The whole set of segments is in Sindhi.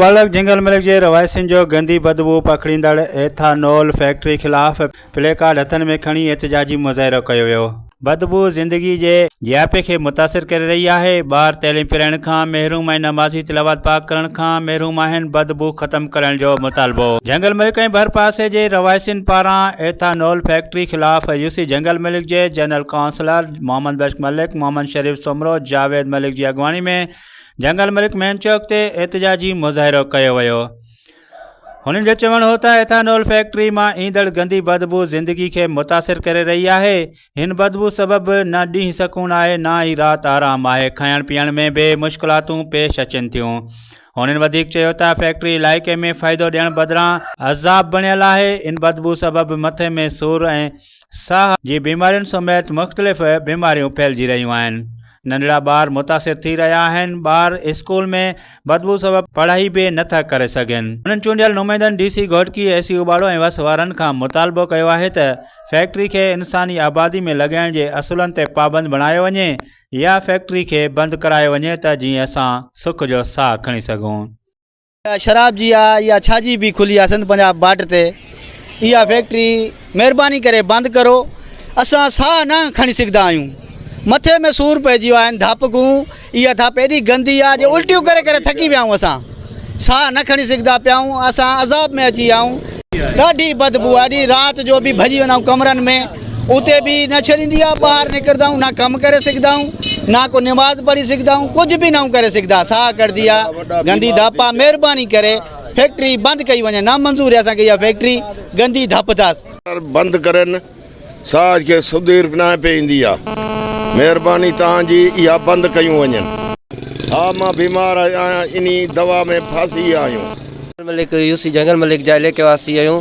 ولڪ جنگل ملڪ جي رهواسين جو گندي بدبوء پکڙيندڙ ايٿانول فيڪٽري خلاف پلي ڪارڊ هٿن ۾ کڻي احتجاجي مظاهرو ڪيو ويو. بدبوء زندگي جي جياپي کي متاثر ڪري رهي آهي، ٻار تعليم پرائڻ کان محروم ۽ نمازي تلاوت پاڪ ڪرڻ کان محروم آهن، بدبوء ختم ڪرڻ جو مطالبو. جنگل ملڪ ۽ ڀرپاسي جي رهواسين پاران ايٿانول فيڪٽري خلاف يو سي جنگل ملڪ جي جنرل ڪائونسلر محمد بخش ملڪ، محمد شريف سومرو، جاويد ملڪ جي اڳواڻي ۾ جنگل ملڪ مين چوڪ تي احتجاجي مظاهرو ڪيو ويو. هنن جو چوڻ هو ته ايٿانول فيڪٽري مان ايندڙ گندي بدبو زندگي کي متاثر ڪري رهي آهي، هن بدبو سبب نه ڏينهن سڪون آهي نه ئي رات آرام آهي، کائڻ پيئڻ ۾ به مشڪلاتون پيش اچن ٿيون. هنن وڌيڪ چيو ته فيڪٽري علائقي ۾ فائدو ڏيڻ بدران عذاب بڻيل آهي، ان بدبو سبب مٿي ۾ سور ۽ ساهه جي بيمارين سميت مختلف بيماريون ڦهلجي رهيون آهن. ننڍڙا ٻار متاثر ٿي رهيا آهن، ٻار اسڪول ۾ بدبو سبب پڙهائي به نه ٿا ڪري سگهن، هنن چونڊيل نمائندن ڊي سي گهوٽڪي، اي سي اوٻاڙو ۽ وس وارن کان مطالبو ڪيو آهي ته فيڪٽري کي انساني آبادي ۾ لڳائڻ جي اصولن تي پابند بڻايو وڃي يا فيڪٽري کي بند ڪرايو وڃي ته جيئن اسان سک جو ساهه کڻي سگهون. شراب جي آ يا ڇا جي بي کلي آ سنڌ پنجاب بارڊر تي اها فيڪٽري مهرباني ڪري بند ڪرو اسان ساهه نه کڻي سگهدا آهيون مٿي ۾ سور پئجي ويا آهن ڌاپڪون اها ڌاپ ايڏي گندي آ جو الٽيون ڪري ڪري ٿڪي ويا آهيون اسان ساهه نه کڻي سگهدا پيا آهيون اسان عذاب ۾ اچي ويا آهيون ڏاڍي بدبو آ اڄ رات جو به ڀڄي ويندا آهيون ڪمرن ۾ اتي به نه ڇڏيندي آ ٻاهر نڪردا آهيون نه ڪم ڪري سگهدا آهيون نه ڪو نماز پڙهي سگهدا آهيون ڪجهه به ناهيون ڪري سگهدا ساهه ڪڙدي آ گندي ڌپ آ مهرباني ڪري فيڪٽري بند ڪئي وڃي نه منظور اسان کي اها فيڪٽري گندي ڌپ اٿس بند ڪرين ساهه کي سدير به ناهي پئي ايندي آ مهرباني توهان جي اها بند ڪيون وڃن ساهه مان بيمار آهيان انهي دوا ۾ ڦاسي آهيون. جنگل ملڪ يوسي جنگل ملڪ جا عليڪي واسي آهيون.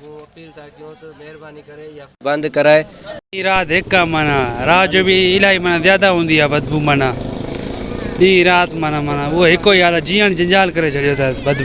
مون اپيل ٿا ڪيون ته مهرباني ڪري اها. بند ڪرائي. ڏينهن رات هڪ آ معنيٰ رات جو به الائي معنيٰ زياده هوندي آ بدبو معنيٰ ڏينهن رات معنيٰ معنيٰ اهو هڪ ئي حال آ جيئڻ جنجال ڪري ڇڏيو اٿس بدبو.